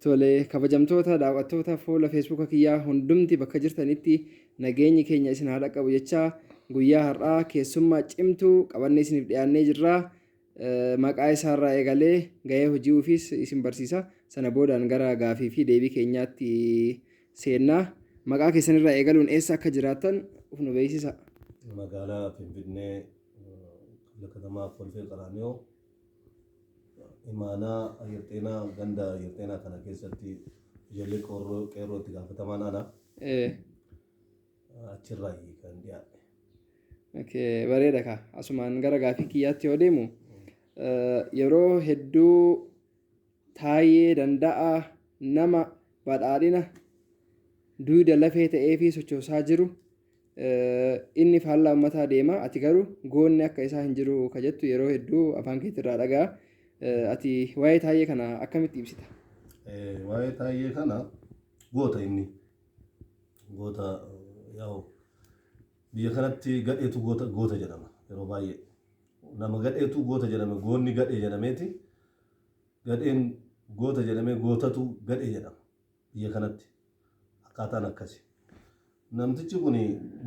Tole kabajamtoota daawwattoota fuula feesbuuka kiyyaa hundumti bakka jirtanitti nageenyi keenya isin haa dhaqqabu jechaa guyyaa har'aa keessummaa cimtuu qabannee isiniif dhiyaannee jirra. Eh, Maqaa isaarraa eegalee gahee hojii ofiis isin barsiisa. Sana boodaan gara gaafii fi deebii keenyaatti seennaa. Maqaa keessanirraa eegaluun eessa akka jiraattan of nu beeksisa. magaalaa Finfinnee eh, katamaa Kolfee Qaraaniyoo imaanaa ayyirxeenaa ganda ayyirxeenaa kana keessatti ijoollee qorroo qeerroo itti gaafatamaan ana Eh, achirraa kan dhiyaadhe. okay, bareeda kaa asumaan gara gaafii kiyyaatti yoo deemu eh, yeroo hedduu Taayyee Danda'aa nama badhaadhina duyda lafee ta'eefii sochoosaa jiru inni faallaa ummataa deema ati garuu goonni akka isaa hin jiru ka jettu yeroo hedduu afaan keetirraa dhagaa ati waa'ee taayyee kana akkamitti ibsita? Waa'ee taayyee kana goota inni goota yaa'u biyya kanatti gadheetu goota goota jedhama yeroo baay'ee nama gadheetu goota jedhame goonni gadhee jedhameeti Gadheen goota jedhamee gootatu gadhee jedhama biyya kanatti akkaataan akkasi. Namtichi kun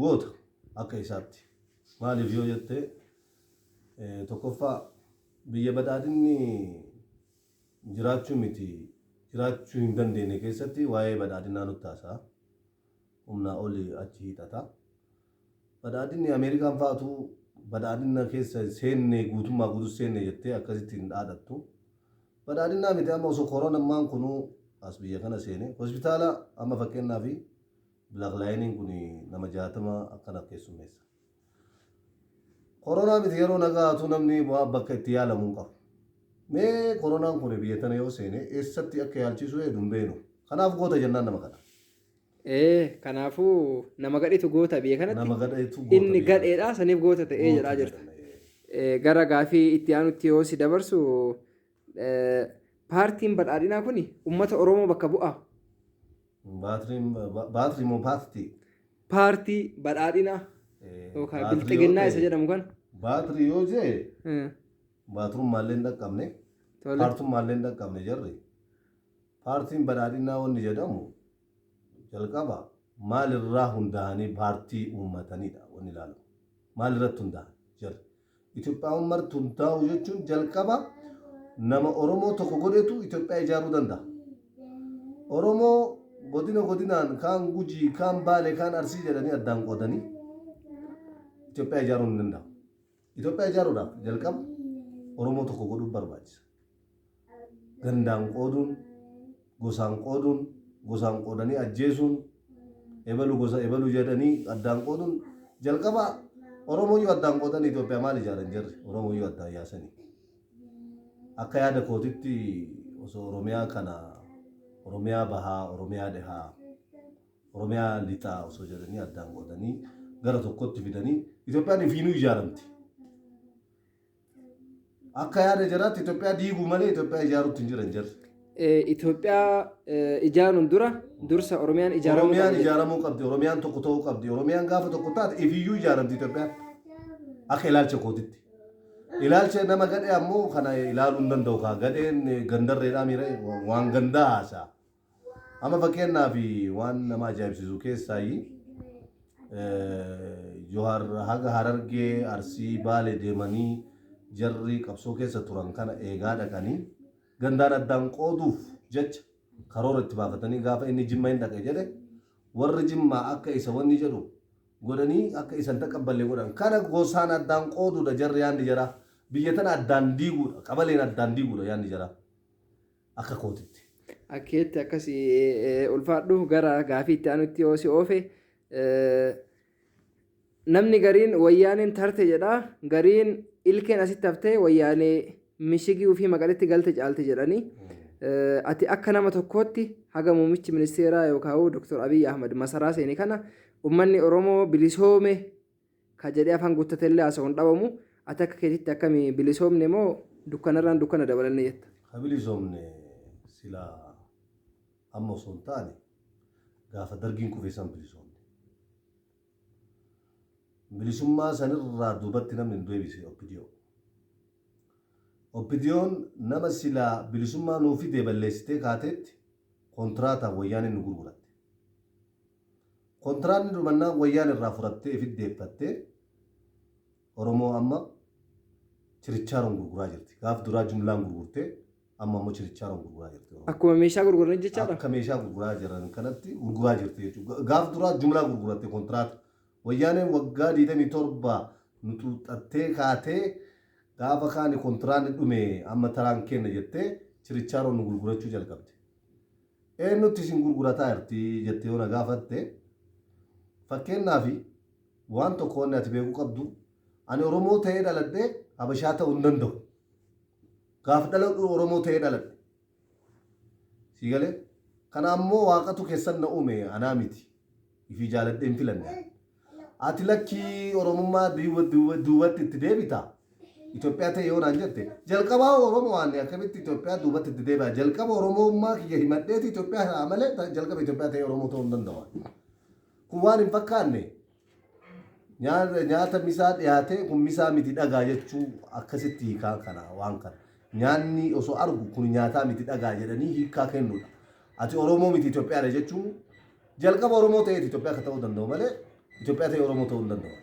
goota akka isaatti. Maaliif yoo jette tokkoffaa biyya badhaadhinni jiraachuu miti jiraachuu hin dandeenye keessatti waa'ee badhaadhinaa nutti haasa'a. Humnaa oli achi hiixata. Badhaadhinni Ameerikaan fa'atu badhaadhinna keessa hin seenne guutummaa guututti seenne jettee akkasitti hin dhaadhattu. Badhaadhinnaa miti amma osoo koronammaan kunu as biyya kana seene hospitaala amma fakkeennaaf Black Lioniin kun nama 60 akkana keessummeessa. Koronaa miti yeroo nagaatu namni waa bakka itti yaalamu hin qabu. Mee koronaan kun biyya tana yoo seene eessatti akka yaalchiisu eedu hin beeknu. Kanaaf goota jennaan nama kana. Ee, kanaafuu nama gadhitu goota biyya kanatti Nama gadheetu goota inni biyya gadheedha saniif goota ta'ee jedhaa goota jirta. jedhame. Eh, gara gaafii itti aanutti yoo si dabarsu eh, paartiin badhaadhinaa kun ummata Oromoo bakka bu'a. Baatrii ba- baatrii moo paartii? Paartii badhaadhinaa Eh, yookaan baatrii yoo bilxiginnaa ta'e- isa jedhamu kan. Baatrii yoo jee Eh, baatrummaallee hin dhaqqabne Tole. paartummaallee hin dhaqqabne jarri. Paartiin Badhaadhinaa wanni jedhamu jalqaba maal irraa hundaahanii paartii uummatanii dha wanni ilaalamu. Maal irratti hundaahan jarri. Itophiyaawwan marti hundaa'uu jechuun jalqaba nama Oromoo tokko godhetu Itophiyaa ijaaruu danda'a. Oromoo godina godinaan kaan Gujii, kaan Baale, kaan Arsii jedhanii addaan qoodanii Itophiyaa ijaaruun hin danda'amu. Itoophiyaa ijaaruudhaaf jalqaba Oromoo tokko godhuun barbaachisa. Gandaan qooduun, gosaan qooduun, gosaan qoodanii ajjeesuun, ebalu gosa ebalu jedhanii addaan qooduun jalqaba Oromooyyuu addaan qoodanii Itoophiyaa maal ijaaran jarri Oromooyyuu addaan yaasanii. Akka yaada kootitti osoo Oromiyaa kana Oromiyaa bahaa, Oromiyaa dhihaa, Oromiyaa Lixaa osoo jedhanii addaan qoodanii gara tokkotti fidanii Itoophiyaan ifiinuu ijaaramti. Akka yaada jaraatti Itoophiyaa diiguu malee Itoophiyaa ijaaruutti hin jiran jarri. Itoophiyaa ijaaruun dura dursa Oromiyaan ijaaramuu Oromiyaan qabdi. ijaaramuu qabdi. Oromiyaan tokko ta'uu qabdi. Oromiyaan gaafa tokko taate ifiyyuu ijaaramti Itoophiyaan. Akka ilaalcha kootitti. Ilaalcha nama gadhee ammoo kana ilaaluu hin danda'u kaa gadheen gandarreedhaa miira waan gandaa haasa'a. Amma fakkeenyaaf waan nama ajaa'ibsiisu keessaayyi Johaar haga Harargee, Arsii, Baale deemanii jarri qabsoo keessa turan kana eegaa dhaqanii gandaan addaan qooduuf jecha karoora itti baafatanii gaafa inni Jimma hin dhaqe jedhe warri Jimmaa akka isa wanni jedhu godhanii akka isan taqabballe godhan. Kana gosaan addaan qooduudha jarri yaanni jaraa. Biyya tana addaan diiguudha. Qabaleen addaan diiguudha yaanni jaraa. akka kootitti. Akkeetti akkasi ulfaadhu gara gaafii itti aanutti yoo si oofe namni gariin wayyaaneen tarte jedha gariin ilkeen asitti haftee wayyaanee mishigii ofii maqaletti galte caalti jedhanii ati akka nama tokkootti haga muummichi ministeeraa yookaan Dr. Abiy Ahmad masaraa seeni kana ummanni Oromoo bilisoome ka jedhee afaan guuttatellee haasa'u hin dhabamu. Ati akka keetitti akkami bilisoomne moo dukkanarraan dukkana dabalanne jetta? Ka bilisoomne silaa amma osoo hin taane gaafa Dargiin kufee san bilisoomne. Bilisummaa sanirraa duubatti namni nu deebise OPDO. OPDOn nama silaa bilisummaa nuu fidee balleessitee kaateetti kontiraataan wayyaaneen nu gurguratte. Kontiraanni durmannaa wayyaan irraa furattee ifit deeffatte Oromoo amma chirichaaroon gurguraa jirti. Gaaf duraa jumlaan gurgurtee amma ammoo chirichaaroon gurguraa jirti Oromoo. Akkuma meeshaa gurguran jechaadha. Akka meeshaa gurguraa jiran kanatti gurguraa jirti jechuudha. Gaaf duraa jumlaa gurguratte kontiraata. Wayyaaneen waggaa 27 nu xuuxxattee kaatee gaafa kaani kontiraanni dhume amma taraan keenna jettee chirichaaroon nu gurgurachuu jalqabde. Eennutti isin gurgurataa jirti jettee yoo na gaafatte, fakkeenyaaf waan tokko wanni ati beekuu qabdu, ani Oromoo ta'ee dhaladhee Habashaa ta'uu hin danda'u. Gaaf dhaladhu Oromoo ta'ee dhaladhe. Sii galee? Kana ammoo waaqatu keessan na uume anaa miti. Ifii jaaladhee hin filanne. Ati lakkii Oromummaa duwwa duwwa duubatti itti deebita? Itoophiyaa ta'e yoo naan jette, jalqabaa Oromoo ani akkamitti Itoophiyaa duubatti itti deebi'a? Jalqaba Oromoommaa kiyya himadheeti Itoophiyaa ta'a malee ta- jalqaba Itoophiyaa ta'ee Oromoo ta'uu hin danda'u. Kun waan hin fakkaanne nyaata, nyaata misaa dhiyaatee kun misaa miti dhagaa jechuu akkasitti hiikaa kana waan kana. Nyaanni osoo argu kun nyaataa miti dhagaa jedhanii hiikaa kennudha. Ati Oromoo miti Itoophiyaadha jechuun Jalqaba Oromoo ta'eeti Itoophiyaa akka ta'uu danda'u malee Itoophiyaa ta'ee Oromoo ta'uu hin danda'u.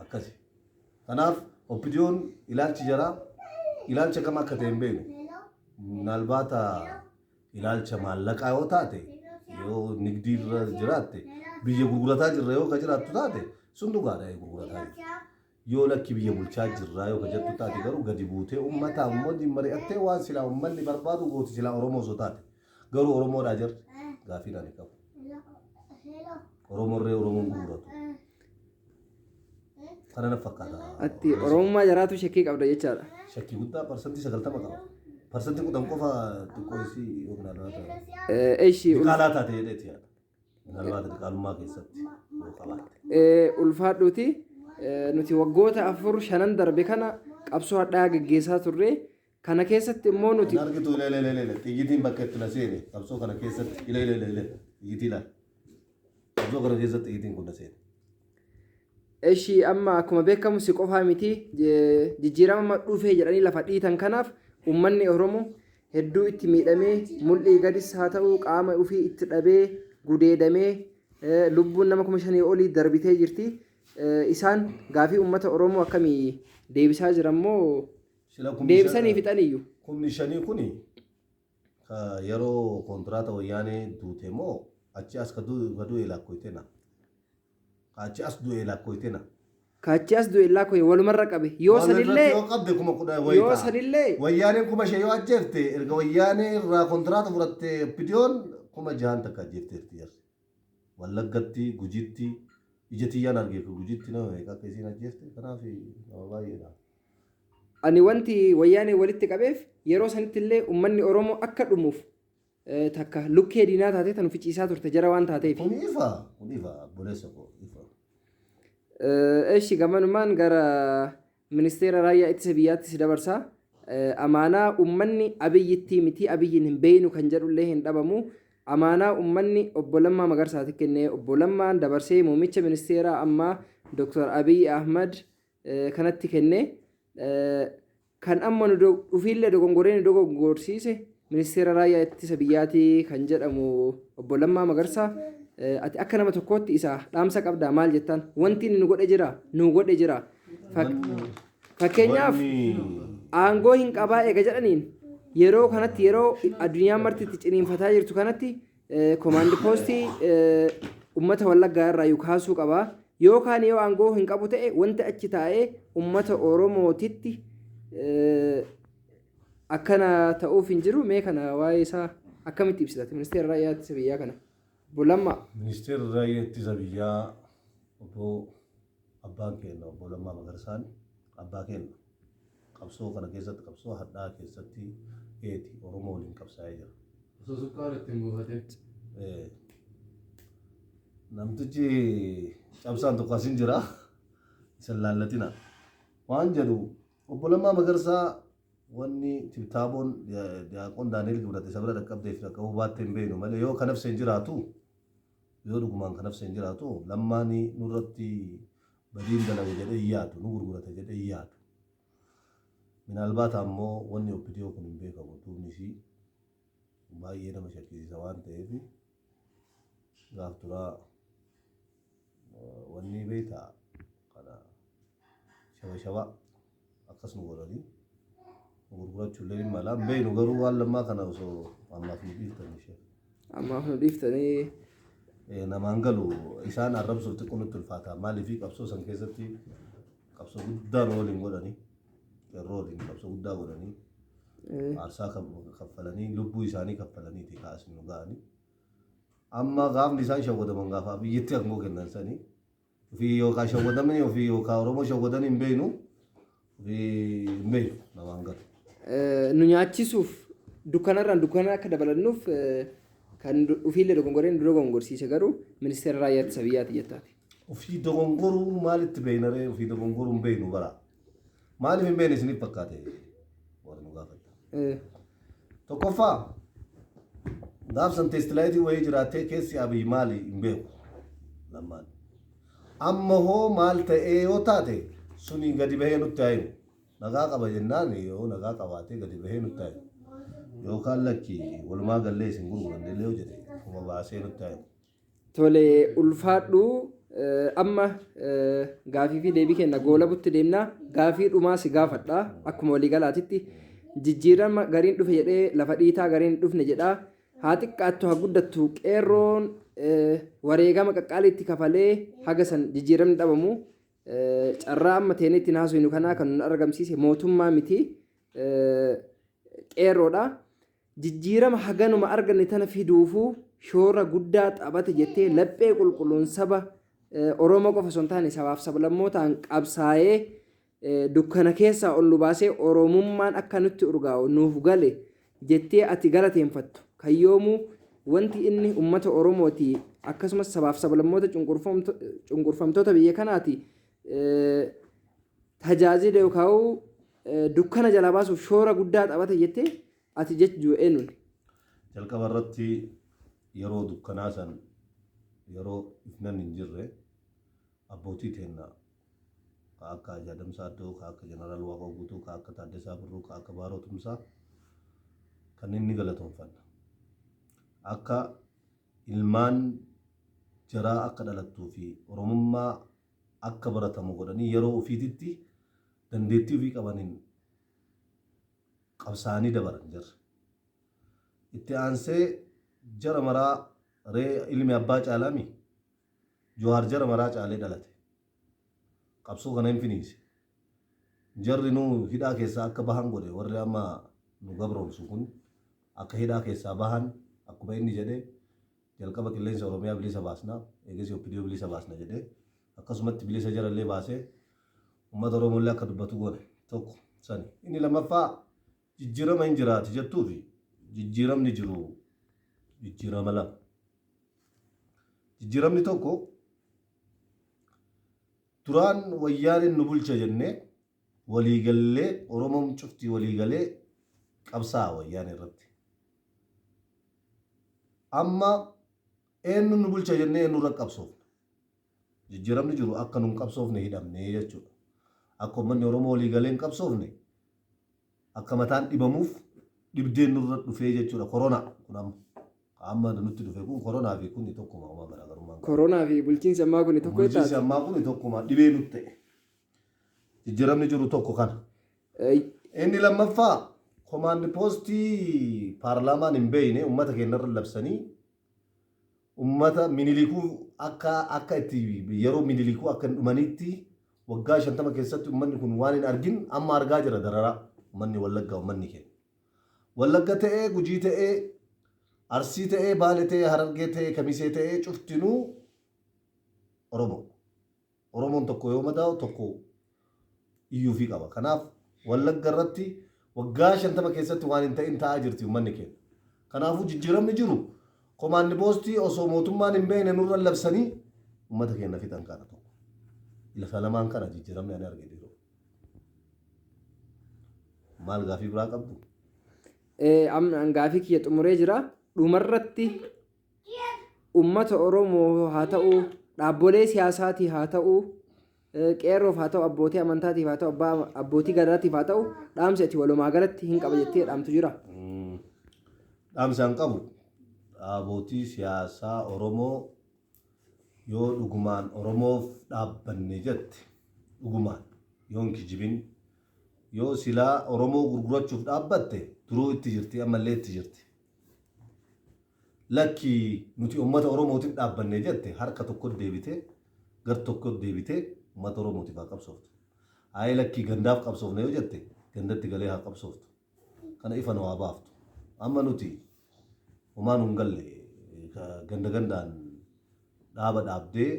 Akkasi. Kanaaf oppidiyoon ilaalchi jaraa ilaalcha kam akka ta'e hin beeknu. Minaalbaata ilaalcha maallaqaa yoo taate yoo nigdii irra jiraatte biyya gurgurataa jirra yoo ka jiraattu taate sun dhugaadha gurgurataa jirra. Yoo lakki biyya bulchaa jirraa yoo ka jettu taate garuu gadi buutee ummataan wajjin mari'attee waan silaa ummanni barbaadu gooti silaa Oromoo osoo taate. Garuu Oromoodhaa jarri? Gaafiin ani qabu. Oromoorree Oromoon gurguratu. Kana na fakkaata. Atti Oromummaa jaraatu shakkii qabda jechaadha. Shakkii guddaa parsantii sagaltama qaba. Parsantii kudhan qofa xiqqoo isii yookiin alaa ta'a. Eh, Eshi Diqaalaa taate jedheeti yaada. Minaalbaat diqaalummaa keessatti yoo qabaatte. Eh, ulfaadhuuti eh, nuti waggoota afur shanan darbe kana qabsoo hadhaa geggeessaa turre kana keessatti immoo nuti Kan argitu ilee ilee ilee ilee xiyyitiin bakka itti na seene qabsoo kana keessatti ilee ilee ilee ilee xiyyitii laal. Qabsoo kana keessatti xiyyitiin kun na seene. Eshi amma akkuma beekamu si qofaa miti jijjiirama amma dhufee jedhanii lafa dhiitan kanaaf uummanni Oromoo hedduu itti miidhamee mul'ii gadis haa ta'u qaama ofii itti dhabee gudeedamee lubbuun nama kuma shanii olii darbitee jirti. Isaan gaafii uummata Oromoo akkamii deebisaa jiran moo deebisanii fixaniyyuu? Kumni shanii kuni Ka yeroo kontraata wayyaanee duute moo achi as ka du'e laakkoyte na. Ka achi as du'e laakkoyte na. Ka achi as du'e laakkoye walumarra qabe. Yoo Wal irratti sanillee yoo qabde kuma kudha wayi yoo ta'a. sanillee Wayyaaneen kuma shan yoo ajjeefte erga wayyaanee irraa kontraata fudhatte OPDOn kuma jahan takka ajjeefteerti jarri. Wallaggatti, Gujitti, ija tiyyaan arge ka Gujitti nama meeqa akka isiin ajjeefte, kanaaf nama baay'eedha. Ani wanti Wayyaaneen walitti qabeef yeroo sanitti illee ummanni Oromoo akka dhumuuf takka lukkee diinaa taatee tanu ficiisaa turte jara waan taateef. Kun ifa, kun ifa, obboleessa koo ifa. Eshi gamanumaan gara Ministeera Raayyaa Ittisa Biyyaattis dabarsa. Amaanaa ummanni Abiyyittii mitii Abiyyiin hin beeynu kan jedhullee hin dhabamu. Amaanaa ummanni Obbo Lammaa Magarsaati kenne. Obbo Lammaan dabarsee muummicha ministeeraa ammaa Dr. Abiy Ahmad kanatti kenne. Kan amma nu dhufiillee dogongoree nu dogongorsiise ministeera raayyaa ittisa biyyaati kan jedhamu Obbo Lammaa Magarsaa ati akka nama tokkootti isa dhaamsa qabdaa maal jettaan? Wanti inni nu godhe jira, nu godhe jira. Fakkeenyaaf aangoo hin qabaa eega jedhaniin yeroo kanatti yeroo addunyaan marti itti ciniinfataa jirtu kanatti komaandi poostii uummata wallaggaa irraa yuu kaasuu qabaa yookaan yoo aangoo hin qabu ta'e wanti achi taa'ee uummata oromootitti akkana ta'uuf hin jiru mee kana waa'ee isaa akkamitti ibsitati ministeera raayyaa ittisa biyyaa kana bulamma ministeera raayyaa ittisa biyyaa obbo Abbaan keenna Obbo Lammaa Magarsaan abbaa keenna. Qabsoo kana keessatti qabsoo hadhaa'aa keessatti eeti Oromoo waliin qabsaa'ee jira. Osoo sukkaara itti hin buufatin. Ee, namtichi cabsaan tokko asin jira isa hin laallatina waan jedhu obbo Lammaa Magarsaa wanni tibtaaboon Diyaaqoon Daani'el Gibrat isa bira dhaqqabdeef dhaqqabuu baattee hin beeknu malee yoo kanaf seen jiraatu Yoo dhugumaan ka nafseen jiraatu Lammaan nurratti badiin dalage jedhee hin yaadu, nu gurgurate jedhee hin yaadu. Minaalbaata ammoo wanni opdo kun hin beekamu duubni isii baay'ee nama shakkisiisa waan ta'eef gaaf duraa wanni beektaa kana shaba shabaa akkas nu godhanii nu gurgurachuu illee hin malaa hin beeknu garuu waan lammaa kana osoo ammaaf nu dhiiftan ishee. Ammaaf nu dhiiftanii Eh, namaan galu isaan arrabsuuf xiqqoo nutti ulfaata maaliif qabsoo san keessatti qabsoo guddaa nu waliin godhanii yeroo waliin qabsoo guddaa godhanii eh, aarsaa kaf- kaffalanii lubbuu isaanii kaffalaniiti kaasni nu ga'anii amma gaafni isaan shawwadaman gaafa biyyatti aangoo kennan sanii Ofii yoo kaa shawwadamne ofii yoo kaa Oromoo shawwadanii hin beeknu ofii hin beeknu na waan galu. nu nyaachisuuf dukkanarraan dukkana akka dabalannuuf kan ofiillee dogongoree nu dogongorsiise garuu ministeera raayyaa ittisa biyyaati jettaati. Ofii dogongoruu maalitti beeknaree ofii dogongoruu hin beeknu bara. Maaliif hin beekne isiniif fakkaate warri nu gaafatan. Eh, Tokkoffaa gaafsan teestilaayitii wayii jiraattee keessi abiyyi maali hin beeku. Lammaan. Amma hoo maal ta'ee yoo taate suni gadi bahee nutti haa himu. Nagaa qaba jennaan yoo nagaa qabaatee gadi bahee nutti haa himu. Yookaan lakki walumaa gallee isin gurguranne illee yoo jedhe kuma baasee nutti haa himu. Tole ulfaadhu amma gaafii fi deebii kenna goolabutti deemna gaafii dhumaa si gaafadha akkuma waliigalaatitti jijjiirama gariin dhufe jedhee lafa dhiitaa gariin dhufne jedha haa xiqqaattu haa guddattu qeerroon eh, wareegama qaqqaaliitti kafalee haga san jijjiiramni dhabamu eh, carraa amma teenee ittiin haasofnu kanaa kan nun argamsiise mootummaa miti eh, qeerroodha. Jijjiirama haganuma arganne tana fiduufuu shoora guddaa taphate jettee laphee qulqulluun saba Oromoo qofa osoo hin taane sabaaf sablammootaan qabsaa'ee dukkana keessaa ol nu baasee Oromummaan akka nutti urgaa'u nuuf gale jettee ati galateenfattu kan yoomuu wanti inni ummata Oromooti akkasumas sabaaf sablammoota cunqurfamtoota biyya kanaati tajaajila yookaan dukkana jalaa baasuuf shoora guddaa taphata jettee ati jechuu eenyuun? Jalqaba irratti yeroo dukkanaa san yeroo ifnan hin jirre abbootii teennaa ka akka Haji Adam Saaddoo, ka akka Jeneraal Waaqoo Guutuu, ka akka Taaddasaa Birruu, ka akka Baaroo Tumsaa kanneen ni galatoomfanna. Akka ilmaan jaraa akka dhalattuu fi Oromummaa akka baratamu godhanii yeroo ofiititti dandeettii ofii qabaniin qabsaa'anii dabaran jarri. Itti aansee jara maraa ree ilmi abbaa caalaamii? Johaar jara maraa caalee dhalate. qabsoo kana hin finiinse. Jarri nu hidhaa keessaa akka bahan godhe warri amma nu gabroomsu kun akka hidhaa keessaa bahan akkuma inni jedhe jalqaba qilleensa Oromiyaa bilisa baasna eegasii OPDO bilisa baasna jedhe akkasumatti bilisa jara illee baasee uummata Oromoo illee akka dubbatu goone tokko sani. Inni lammaffaa jijjiirama hin jiraati jettuu fi jijjiiramni jiru jijjiirama lama. Jijjiiramni tokko Duraan wayyaaneen nu bulcha jennee walii gallee Oromoom cufti walii galee qabsaa'a wayyaanee irratti. Amma eennu nu bulcha jennee eennu irra qabsoofna. Jijjiiramni jiru akka nun qabsoofne hidhamnee jechuudha. Akka ummanni Oromoo walii galee hin qabsoofne Akka mataan dhibamuuf dhibdeen nurra dhufee jechuudha koronaa kun amma ka amma nutti dhufe kun koronaa fi kuni tokkuma homaa garaagarummaan qabu. Koronaa fi bulchiinsi ammaa kuni tokko jettaati? Bulchiinsi ammaa kuni tokkuma dhibee nutti ta'e. Jijjiiramni jiru tokko kana. Inni lammaffaa komaandi poostii paarlaamaan hin beeyne uummata keenya irra labsanii Ummata Minilikuu akka akka itti yeroo Minilikuu akka hin dhumaniitti waggaa 50 keessatti ummanni kun waan hin argin amma argaa jira dararaa ummanni Wallaggaa ummanni keenya. Wallagga ta'ee Gujii ta'ee Arsii ta'ee Baale ta'ee Harargee ta'ee Kamisee ta'ee cuftinuu Oromoo. Oromoon tokko yoo madaa'u tokko iyyuufii qaba. Kanaaf Wallagga irratti waggaa 50 keessatti waan hin ta'in ta'aa jirti ummanni keenya. Kanaafuu jijjiiramni jiru komaandi poostii osoo mootummaan hin beekne nurra labsanii ummata keenya fixan kana tokko. Lafa lamaan kana jijjiiramni ani arge dhiiroo. Maal gaafii biraa qabdu? Eh, am- Gaafii kiyya xumuree jira. Dhumarratti ummata Oromoo haa ta'u, dhaabbolee siyaasaatiif haa ta'u, qeerroof haa ta'u, abbootii amantaatiif haa ta'u, abbaa abbootii gadaatiif haa ta'u, dhaamsi ati walumaa galatti hin qaba jettee dhaamtu jira. Dhaamsaan qabu dhaabootii siyaasaa Oromoo yoo dhugumaan Oromoof dhaabbanne jette dhugumaan yoo hin kijibin yoo silaa Oromoo gurgurachuuf dhaabbatte duruu itti jirti ammallee itti jirti. Lakki nuti ummata oromootif dhaabbanne jette harka tokkot deebitee gar tokkot deebitee ummata oromootif haa qabsooftu. Ayi lakki gandaaf qabsoofna yoo jette gandatti galee haa qabsooftu. Kana ifa nu haa baaftu. Amma nuti homaa nu hin galle ka ganda gandaan dhaaba dhaabdee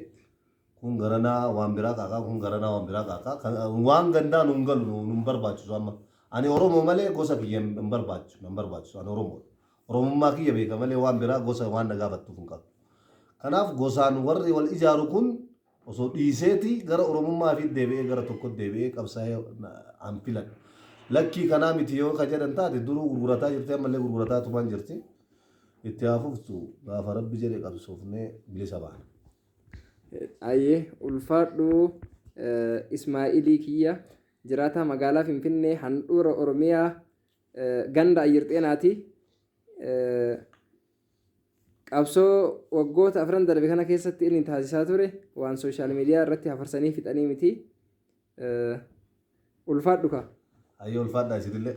Kun garanaa waan biraa qaaqa kun garanaa waan biraa qaaqa kan waan gandaa nun galu nu nun barbaachisu amma ani oromo malee gosa kiyya hin hin barbaachisu nan barbaachisu ani oromo oromummaa kiyya beeka malee waan biraa gosa waan na gaafattuuf hin qabu kanaaf gosaan warri wal ijaaru kun osoo dhiiseeti gara oromummaa fi deebi'ee gara tokko deebi'ee qabsaa'ee na- an filadha lakkii kanaa miti yoo ka jedhan taate duruu gurgurataa jirti ammallee gurgurataa tumaan jirti itti haa fuftu gaafa rabbi jedhe qabsoofnee bilisa baana. Ayyee ulfaadhu eh, Ismaa'ilii kiyya jiraataa magaalaa Finfinnee handhuura Oromiyaa eh, ganda Ayyirxeenaati. Eh, qabsoo waggoota afran darbe kana keessatti inni taasisaa ture waan sooshaal miidiyaa irratti hafarsanii fixanii miti. Eh, ulfaadhu kaa. Ayyee ulfaadhaa isinillee.